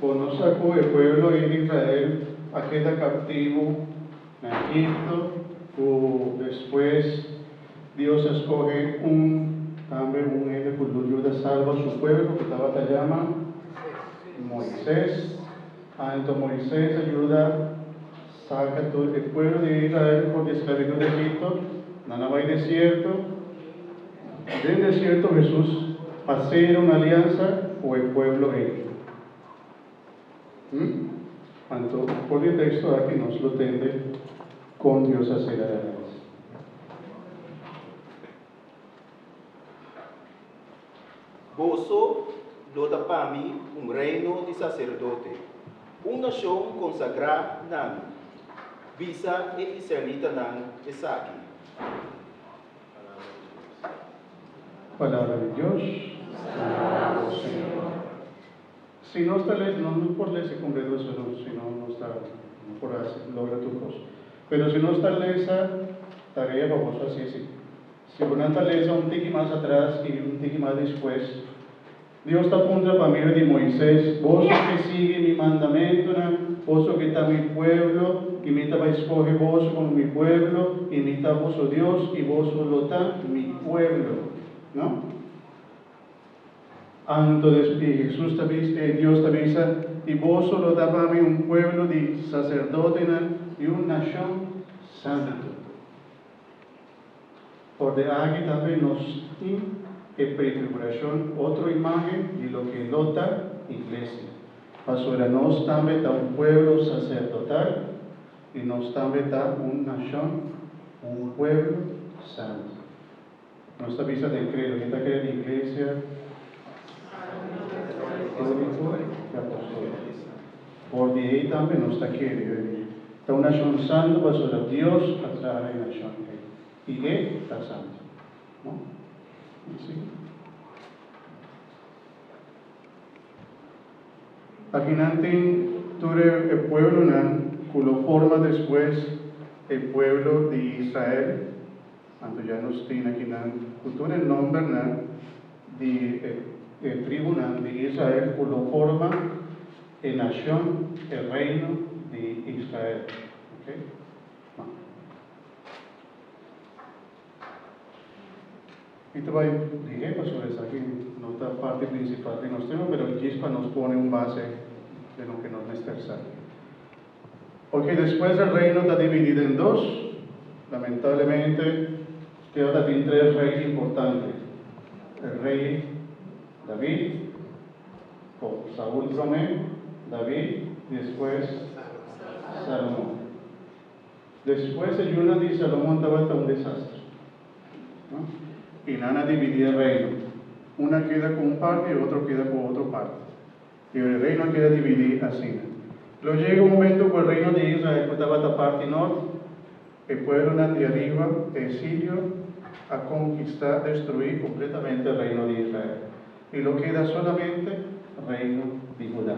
Bo no sa ku e pueblo ei di Israel a keda kaptivo na Egipto ku despues Dios a skohe un tambe un hende ku lo yuda salba su pueblo ku tabata yama Moises? Anto Moises a yuda. Saka tur e pueblo di Israel for di esclavitud di Egipto, nan a bai desierto. Den desierto Hesus a sera un aliansa cu e pueblo ey. Hm? Anto for di e texto aki nos lo tende con Dios a sera aliansa. Boso lo ta pa mi un reino di saserdote, un nashon konsagrá na mi. Bisa e israelitanan esaki. Palabra di Dios. Alabao Señor. Si nos ta les, nos no por lesa e kongregason no, si no nos ta no por logra tur kos. Pero si nos ta lesa, tarea pa boso hasi e si. Si bo nan ta lesa un tiki mas atras i un tiki mas despues, Dios ta puntra pa medio di Moises, Boso ke sigui mi mandamentunan? Boso ke ta mi pueblo, i mi ta bai skohe boso komo mi pueblo, i mi ta boso Dios, i boso lo ta mi pueblo? No. Anto des i Hesus ta bisa, i Dios ta bisa, I boso lo ta pa mi un pueblo di saserdotenan i un nashon santu. For di aki tambe nos tin e pretribulacion, otro imagen di loke lo ta Iglesia, pasobra nos tambe ta un pueblo sacerdotal y nos tambe ta un nacion, un pueblo santo. Nos ta bisa den credo. Mi ta crea di iglesia unico y apostolico. For di ey tambe nos ta kere yo ey ta un nacion santo pasobra Dios a traha na e nacion ey y e ta santo. No? Mi sigui. Akinan tin tur e pueblonan cu lo forma despues e pueblo di Israel. Anto ya nos tin akinan ku tur e nòmbernan di e tribunan di Israel ku lo forma e nashon, e reino di Israel. Oke. Nau. Mi ta bai dihé pasobra esaki no ta parti prinsipal di nos tema, pero djis pa nos pone un base den loke nos mester sa. Porque despues e reino ta dividí den dos, lamentablemente te ora tin tres rey importante, e rey David, con Saul prome, David, y despues Salomon. Despues e yuna di Salomon tabata un desastre, no? Y nan a dividí e reino, una keda cu un parte y otro keda cu otro parte. E reino keda dividí asina. Lo yega un momentu ku e reino di Israel ku tabata parti nort, e pueblonan di ariba, e Sirio, a konkistá, destruí, kompletamente e reino di Israel, i lo keda solamente reino di Hudá.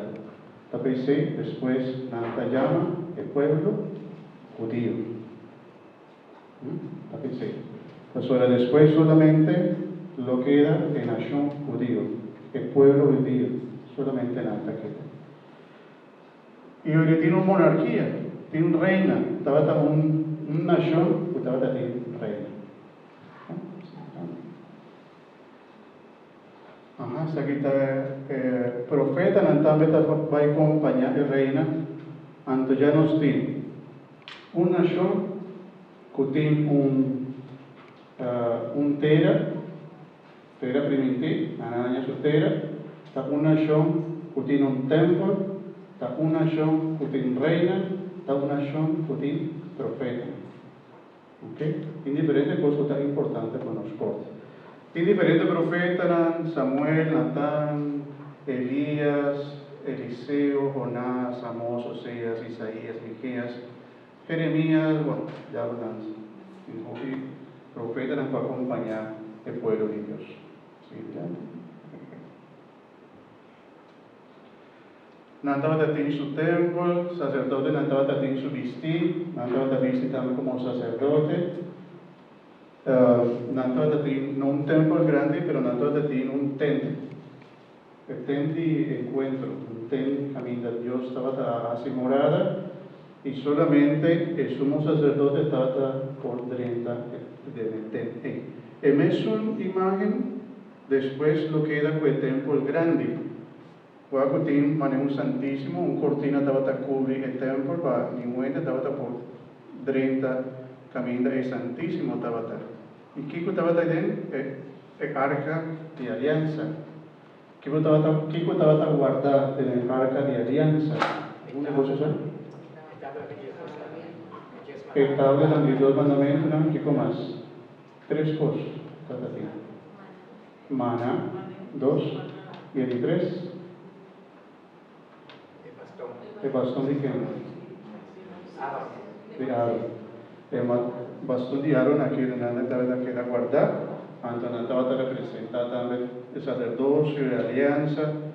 Ta por esei despues nan ta yama e pueblo Hudio. Ta p'esei. Pasobra despues solamente lo keda e nashon hudio, e pueblo hudio, solamente nan ta keda. I oire tin un monarkia, tin reina, tabata un nashon ku tabata tin reina. Esaki ta e profetanan tambe ta bai kompañá e reina. Anto dja nos tin un nashon ku tin un un tera, tera primintí, nan a haña su tera, ta un nashon ku tin un tèmpel, ta un nashon ku tin reinan, ta un nashon ku tin profetanan. Oke, tin diferente kos ku ta importante pa nos kort. Tin diferente profetanan, Samuel, Natan, Elias, Eliseo, Jonás, Amos, Oseas, Isaías, Mikeas, Jeremías, bueno, diablo nan tin hopi profetanan ku a kompañá e pueblo di Dios. Sigui dilanti. Nan tabata tin su tempel, saserdotenan tabata tin su bistí, nan tabata bisti tambe komo saserdote. Nan tabata tin, no un tempel grandi, pero nan tabata tin un tent, e tent di enkuentro, un tent kaminda Dios tabata a hasi morada, i solamente e sumo saserdote tabata por drenta den e tent ei. E mesun imágen. Despues lo keda ku e tèmpel grandi. Kua ku tin manera un santísimo, un kortina tabata kubri e tèmpel pa ningun hende tabata por drenta kaminda e santísimo tabata. I kiko tabata ei den? E arka di aliansa. Kiko tabata kiko tabata warda den e arka di aliansa? E kosasnan? E tablanan di e dos mandamentunan. Kiko mas? Tres kos ta ta tin. Mana, dos, bia di tres. E baston di ken? Di Aron. E baston di Aron a keda na nan tabata keda guardá, anto nan tabata representá tambe e saserdocio, e aliansa.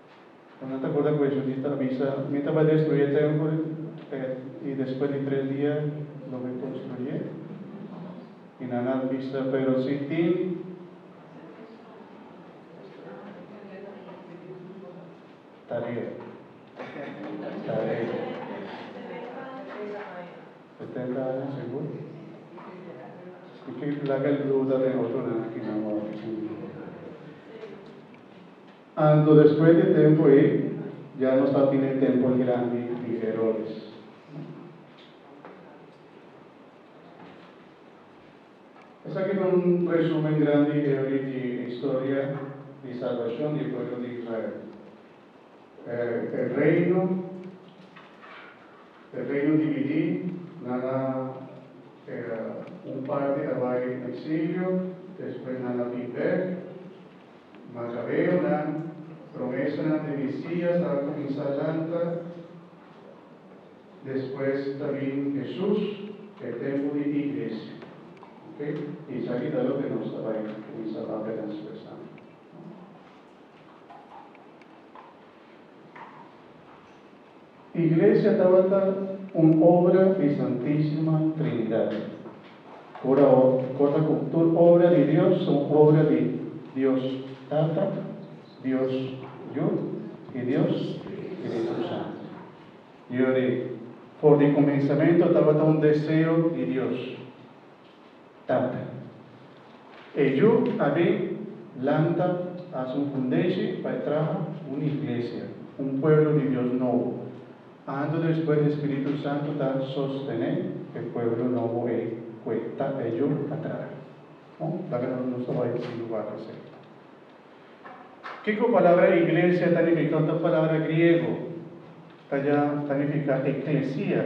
Bo no ta borda cu e judita a bisa, Mi ta bay destruye e tempel, y despues di tres dia Lo bay construye? Y nan a bisa, Pero si tin. Tarea. Setenta aña, segur? Y ki laga el duda den otro nan aki, nan wou aki sin duda. Anto despues di e tempu ei, ya nos ta tin e tempel grandi di Herodes. Esaki ta un resumen grandi hevi di e historia di salbashon di e pueblo di Israel. E reino, e reino dividí, nan a un parti a bai na exilio, despues nan a bin bek. Makabeonan, promesanan di Mesias a kuminsá lanta, despues ta bin Hesus, ku e tempu di Iglesia. Oke, esaki ta loke nos ta bai kuminsá papia den Spes Santu. Iglesia tabata un obra di Santisima Trinidad. Ora awor, kosnan ku tur obra di Dios son obra di Dios Tata, Dios Yu i Dios Spiritu Santu. Yori, for di kuminsamentu tabata un deseo di Dios. Tata. E yu a bin lanta haci un fundeshi pa e traha un iglesia, un pueblo di Dios nobo. Anto despues e Spiritu Santu ta sostene e pueblo nobo ei cu e tata e yu a traha. Bon, laga nos nos ta bai sin lugar di sey. Kico palabra iglesia ta nifica? Un ta palabra griego, ta ya ta nifica eclesia.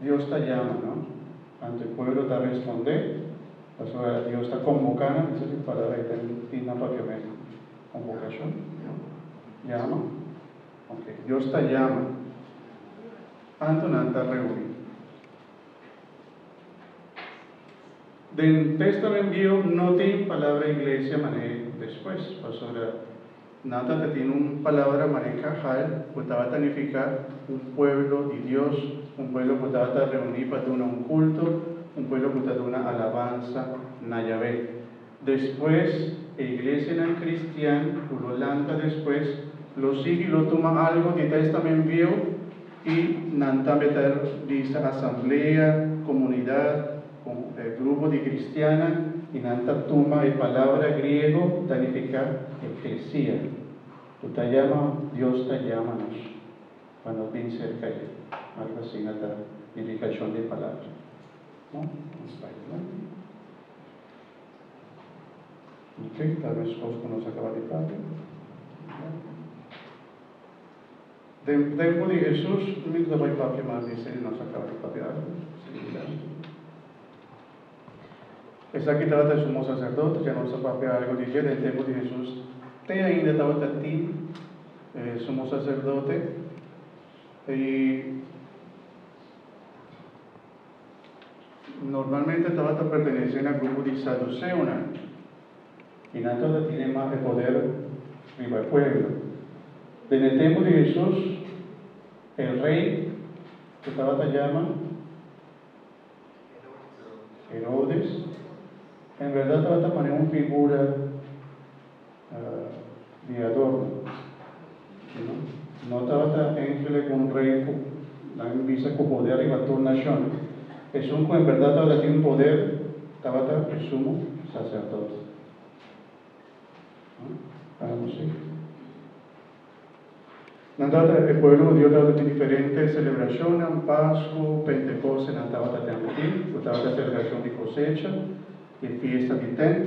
Dios ta yama no, anto e pueblo ta respondé, pasobra Dios ta conboca nan, esaki ta palabra y ta tin nan papiamento, convocacion, yama, ok, Dios ta yama, anto nan ta reuni. Den Testament Vieho no tin palabra iglesia mané despues, pasobra. Natan ta tin un palabra marinka, hal, ku tabata nifiká un pueblo di Dios, un pueblo ku tabata reuní pa duna un kulto, un pueblo ku ta duna alabansa na Yahweh. Despues, e iglesianan kristian ku lo lanta despues lo sigui lo tuma algu di Tèstamen Bieu, I nan tambe ta bisa asamblea, komunidat, ku e grupo di kristiannan i nan ta tuma e palabra griego ta nifiká eklesia, ku ta yama Dios ta yama nos pa nos bin serka e. Algu asina ta nifikashon di e palabra. No, un slide alanti. Oke, ta meskos ku nos a kaba di papia. Obrigado. Den tempu di Hesus, mi ta bai papia mas di sedi nos a kaba di papia. Esaki tabata e sumo saserdote, dja nos a papia algu di dje. Den tempu di Hesus te ainda tabata tin e sumo saserdote, i normalmente tabata pertenesé na grupo di saduseonan. I nan tur ta tene mas e poder riba e pueblo. Den e tempu di Hesus, e rei ku tabata yama Herodes, en berdad tabata manera un figura. di adorno. Kino no tabata angele ku un rei ku nan bisa ku poder riba tur nashon. Esun ku en berdad tabata tin poder tabata e sumo saserdot. Hamosi. Nan tabata e pueblo hudio tabata tin diferente selebrashonnan, Pasku, Pentekoste nan tabata ten aki ku tabata selebrashon di kosecha i fiesta di tent.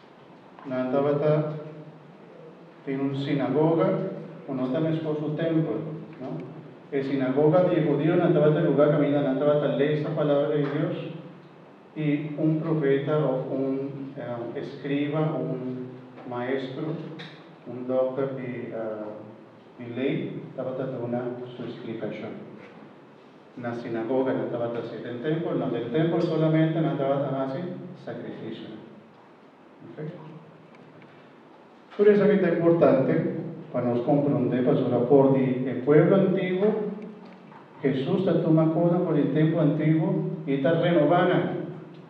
Nan tabata tin un sinagoga, ku no ta meskos ku tempel, no. E sinagoga di e hudionan tabata e lugá kaminda nan tabata lesa palabra di Dios i un profeta òf un eskriba òf un maestro, un dòkter di lei, tabata duna su splikashon. Na sinagoga nan tabata si, den tempel no, den tempel solamente nan tabata hasi sacrificio. Oke. Tur esaki ta importante pa nos compronde pasobra for di e pueblo antiguo Hesus ta tuma cosnan for di e tempo antiguo y ta renoba nan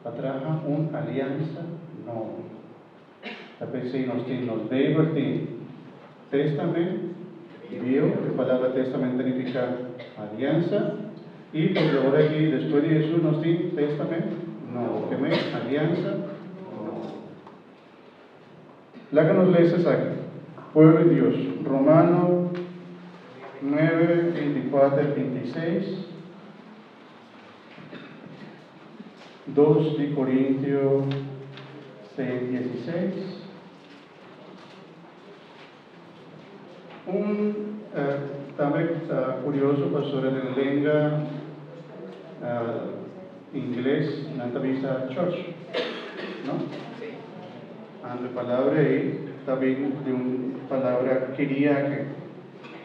pa traha un aliansa nobo. Ta pens'ei nos tin nos Bijbel tin Testamen Bieu, e palabra Testamen ta nifiká Aliansa, i por di ora aki despues di Hesus nos tin Testamen Nobo. Ke mei? Aliansa Nobo. Laga nos lesa esaki, Pueblo di Dios, Romano nuebe binti kuater, binti seis. Dos di Corintio seis diesiseis, Un tambe curioso pasobra den lenga ingles nan ta bisa church, no? Anto e palabra ei ta bin di un palabra kiriake.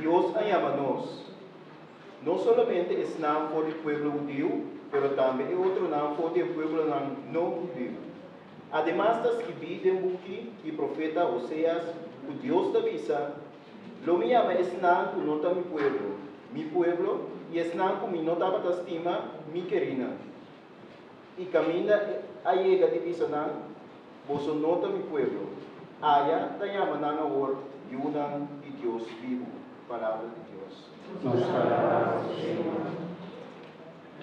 Dios a yama nos, no solamente esnan for di pueblo hudiu, pero tambe e otronan for den pueblonan no-hudiu. Ademas ta skibí den buki di profeta Hoseas ku Dios ta bisa, Lo mi yama esnan ku no ta mi pueblo, mi pueblo, i esnan ku mi no tabata stima, mi kerinan. i kaminda a yega di bisa nan, Boso no ta mi pueblo. Aya ta yama nan awor yunan di Dios bibu. Palabra di Dios.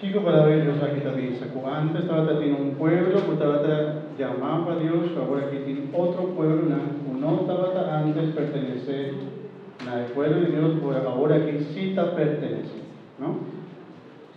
Kiko Palabra di Dios aki ta bisa? Ku antes tabata tin un pueblo ku tabata yamá pa Dios, pero awor aki tin otro pueblonan ku no tabata antes pertenesé na e pueblo di Dios, pero awor aki si ta pertenesé. No?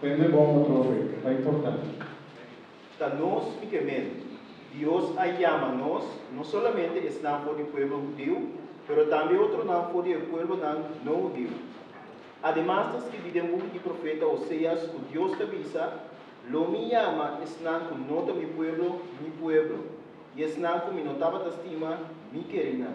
Prende bon pa trofe, e ta importante. Ta nos i kemen. Dios a yama nos, no solamente esnan for di pueblo hudiu, pero tambe otronan for di e pueblonan no hudiu. Ademas ta skirbi den buki di profeta Oseas ku Dios ta bisa, Lo mi yama esnan ku no ta mi pueblo, mi pueblo, i esnan ku mi no tabata stima, mi keri nan.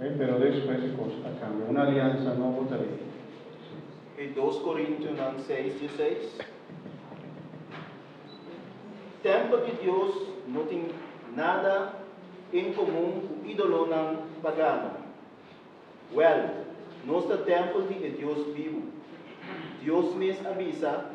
Oke, pero despues e cos a cambia. Un aliansa nobo ta ley. Oke, dos Corintiunan seis di e seis. Tempel di Dios no tin nada en comun cu idolonan pagano. Wel, nos ta tempel di e Dios bibu. Dios mes a bisa.